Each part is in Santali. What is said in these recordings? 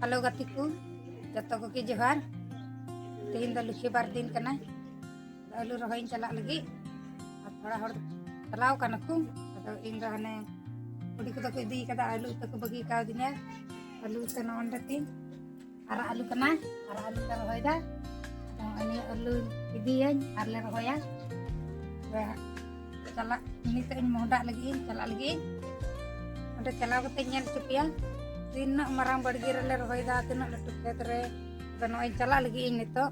ᱦᱮᱞᱳ ᱜᱟᱛᱮ ᱠᱚ ᱡᱚᱛᱚ ᱠᱚᱜᱮ ᱡᱚᱦᱟᱨ ᱛᱮᱦᱮᱧ ᱫᱚ ᱞᱩᱠᱷᱤ ᱵᱟᱨ ᱫᱤᱱ ᱠᱟᱱᱟ ᱟᱹᱞᱩ ᱨᱚᱦᱚᱭᱤᱧ ᱪᱟᱞᱟᱜ ᱞᱟᱹᱜᱤᱫ ᱟᱨ ᱛᱷᱚᱲᱟ ᱦᱚᱲ ᱪᱟᱞᱟᱣ ᱠᱟᱱᱟ ᱠᱚ ᱟᱫᱚ ᱤᱧ ᱫᱚ ᱦᱟᱱᱮ ᱠᱩᱲᱤ ᱠᱚᱫᱚ ᱠᱚ ᱤᱫᱤ ᱠᱟᱫᱟ ᱟᱹᱞᱩ ᱩᱛᱩ ᱠᱚ ᱵᱟᱹᱜᱤ ᱠᱟᱣᱫᱤᱧᱟ ᱟᱹᱞᱩ ᱩᱛᱩ ᱱᱚᱸᱰᱮ ᱛᱤᱧ ᱟᱨᱟᱜ ᱟᱹᱞᱩ ᱠᱟᱱᱟ ᱟᱨᱟᱜ ᱟᱹᱞᱩ ᱞᱮ ᱨᱚᱦᱚᱭᱫᱟ ᱟᱫᱚ ᱱᱤᱭᱟᱹ ᱟᱹᱞᱩ ᱤᱫᱤᱭᱟᱹᱧ ᱟᱨᱞᱮ ᱨᱚᱦᱚᱭᱟ ᱪᱟᱞᱟᱜ ᱱᱤᱛᱚᱜ ᱤᱧ ᱢᱚᱦᱰᱟᱜ ᱞᱟᱹᱜᱤᱫ ᱤᱧ ᱪᱟᱞᱟᱜ ᱞᱟᱹᱜᱤᱫ ᱤᱧ ᱚᱸᱰᱮ ᱪᱟᱞᱟᱣ ᱠᱟᱛᱮ ᱧᱮᱞ ᱦᱚᱪᱚ ᱯᱮᱭᱟ ᱛᱤᱱᱟᱹᱜ ᱢᱟᱨᱟᱝ ᱵᱟᱲᱜᱮ ᱨᱮᱞᱮ ᱨᱚᱦᱚᱭᱮᱫᱟ ᱛᱤᱱᱟᱹᱜ ᱞᱟᱹᱴᱩ ᱠᱷᱮᱛ ᱨᱮ ᱟᱫᱚ ᱱᱚᱜᱼᱚᱭ ᱪᱟᱞᱟᱜ ᱞᱟᱹᱜᱤᱫ ᱤᱧ ᱱᱤᱛᱚᱜ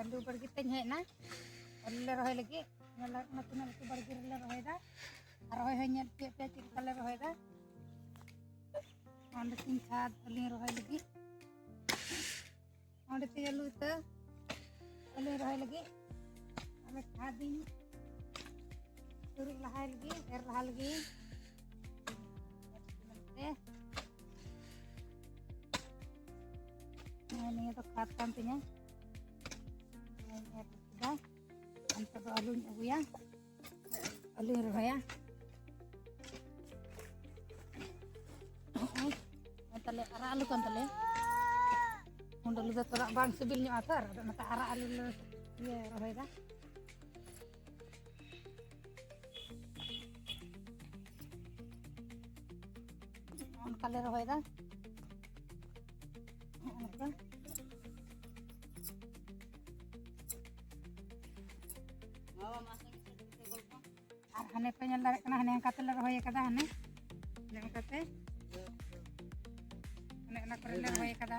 ᱟᱹᱞᱩ ᱵᱟᱲᱜᱮ ᱛᱮᱧ ᱦᱮᱡ ᱮᱱᱟ ᱟᱹᱞᱩ ᱞᱮ ᱨᱚᱦᱚᱭ ᱞᱟᱹᱜᱤᱫ ᱧᱮᱞ ᱚᱱᱟ ᱛᱤᱱᱟᱹᱜ ᱞᱟᱹᱴᱩ ᱵᱟᱲᱜᱮ ᱨᱮᱞᱮ ᱨᱚᱦᱚᱭᱮᱫᱟ ᱟᱨ ᱨᱚᱦᱚᱭ ᱦᱚᱸ ᱧᱮᱞ ᱦᱚᱪᱚᱭᱮᱫ ᱯᱮᱭᱟ ᱪᱮᱫ ᱞᱮᱠᱟ ᱞᱮ ᱨᱚᱦᱚᱭᱮᱫᱟ ᱚᱸᱰᱮ ᱛᱤᱧ ᱪᱷᱟᱫ ᱟᱹᱞᱤᱧ ᱨᱚᱦᱚᱭ ᱞᱟᱹᱜᱤᱫ ᱚᱸᱰᱮ ᱛᱮ ᱟᱹᱞᱩ ᱤᱛᱟᱹ ᱟᱹᱞᱩ ᱨᱚᱦᱚᱭ ᱞᱟᱹᱜᱤᱫ ᱟᱫᱚ ᱠᱷᱟᱫᱤᱧ ᱪᱩᱨᱩᱡ ᱞᱟᱦᱟᱭ ᱞᱟᱹᱜᱤᱫ ᱮᱨ ᱞᱟᱦᱟ ᱞᱟᱹᱜᱤᱫ ᱱᱤᱭᱟᱹ ᱫᱚ ᱠᱷᱟᱫ ᱠᱟᱱ ᱛᱤᱧᱟᱹ ᱮᱨ ᱠᱮᱫᱟ ᱱᱤᱛᱚᱜ ᱫᱚ ᱟᱹᱞᱩᱧ ᱟᱹᱜᱩᱭᱟ ᱟᱹᱞᱩᱧ ᱨᱚᱦᱚᱭᱟ ᱛᱟᱞᱮ ᱟᱨᱟᱜ ᱟᱹᱞᱩ ᱠᱟᱱ ᱛᱟᱞᱮᱭᱟ ᱦᱩᱰ ᱟᱹᱞᱩ ᱫᱚ ᱛᱷᱚᱲᱟ ᱵᱟᱝ ᱥᱤᱵᱤᱞ ᱧᱚᱜᱼᱟ ᱛᱚ ᱟᱫᱚ ᱚᱱᱟᱛᱮ ᱟᱨᱟᱜ ᱟᱹᱞᱩ ᱞᱮ ᱤᱭᱟᱹ ᱨᱚᱦᱚᱭᱮᱫᱟ ᱚᱱᱠᱟ ᱞᱮ ᱨᱚᱦᱚᱭᱮᱫᱟ ᱟᱨ ᱦᱟᱱᱮ ᱯᱮ ᱧᱮᱞ ᱫᱟᱲᱮᱭᱟᱜ ᱠᱟᱱᱟ ᱦᱟᱱᱮ ᱚᱱᱠᱟ ᱛᱮᱞᱮ ᱨᱚᱦᱚᱭ ᱟᱠᱟᱫᱟ ᱦᱟᱱᱮ ᱦᱟᱱᱮ ᱚᱱᱠᱟᱛᱮ ᱦᱟᱱᱮ ᱚᱱᱟ ᱠᱚᱨᱮ ᱞᱮ ᱨᱚᱦᱚᱭ ᱟᱠᱟᱫᱟ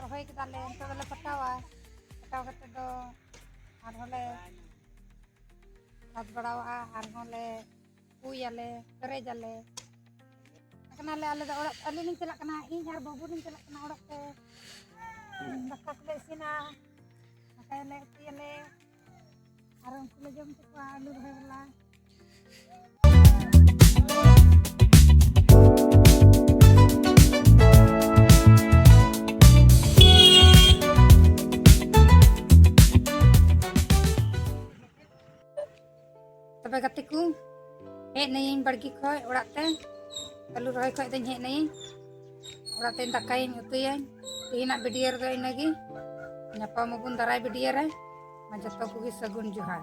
ᱨᱚᱦᱚᱭ ᱠᱮᱫᱟ ᱞᱮ ᱱᱤᱛᱚᱜ ᱫᱚᱞᱮ ᱯᱟᱴᱟᱣᱟ ᱯᱟᱴᱟᱣ ᱠᱟᱛᱮ ᱫᱚ ᱟᱨᱦᱚᱸ ᱞᱮ ᱥᱟᱵ ᱵᱟᱲᱟᱣᱟᱜᱼᱟ ᱟᱨᱦᱚᱸ ᱞᱮ ᱯᱩᱭᱟᱞᱮ ᱯᱮᱨᱮᱡᱟᱞᱮ ᱠᱟᱱᱟᱞᱮ ᱟᱞᱮ ᱫᱚ ᱚᱲᱟᱜ ᱟᱹᱞᱤᱧ ᱞᱤᱧ ᱪᱟᱞᱟᱜ ᱠᱟᱱᱟ ᱤᱧ ᱟᱨ ᱵᱟᱹᱵᱩ ᱞᱤᱧ ᱪᱟᱞᱟᱜ ᱠᱟᱱᱟ ᱚᱲᱟᱜ ᱛᱮ ᱫᱟᱠᱟ ᱠᱚᱞᱮ ᱤᱥᱤᱱᱟ ᱫᱟᱠᱟᱭᱟᱞᱮ ᱩᱛᱩᱭᱟᱞᱮ ᱟᱨ ᱩᱱᱠᱩ ᱞᱮ ᱡᱚᱢ ᱦᱚᱪᱚ ᱠᱚᱣᱟ ᱟᱹᱞᱩ ᱨᱚᱦᱚᱭ ᱵᱟᱞᱟ ᱛᱚᱵᱮ ᱜᱟᱛᱮ ᱠᱚ ᱦᱮᱡ ᱱᱟᱹᱭᱤᱧ ᱵᱟᱲᱜᱮ ᱠᱷᱚᱡ ᱚᱲᱟᱜ ᱛᱮ ᱟᱹᱞᱩ ᱨᱚᱦᱚᱭ ᱠᱷᱚᱡ ᱫᱚᱧ ᱦᱮᱡ ᱱᱟᱹᱭᱤᱧ ᱚᱲᱟᱜ ᱛᱮ ᱫᱟᱠᱟᱭᱟᱹᱧ ᱩᱛᱩᱭᱟᱹᱧ ᱛᱮᱦᱮᱧᱟᱜ ᱵᱷᱤᱰᱤᱭᱳ ᱨᱮᱫᱚ ᱤᱱᱟᱹᱜᱮ ᱧᱟᱯᱟᱢ ᱟᱵᱚᱱ ᱫᱟᱨᱟᱭ ᱵᱷᱤᱰᱤᱭᱳ ᱨᱮ ᱢᱟ ᱡᱚᱛᱚ ᱠᱚᱜᱮ ᱥᱟᱹᱜᱩᱱ ᱡᱚᱦᱟᱨ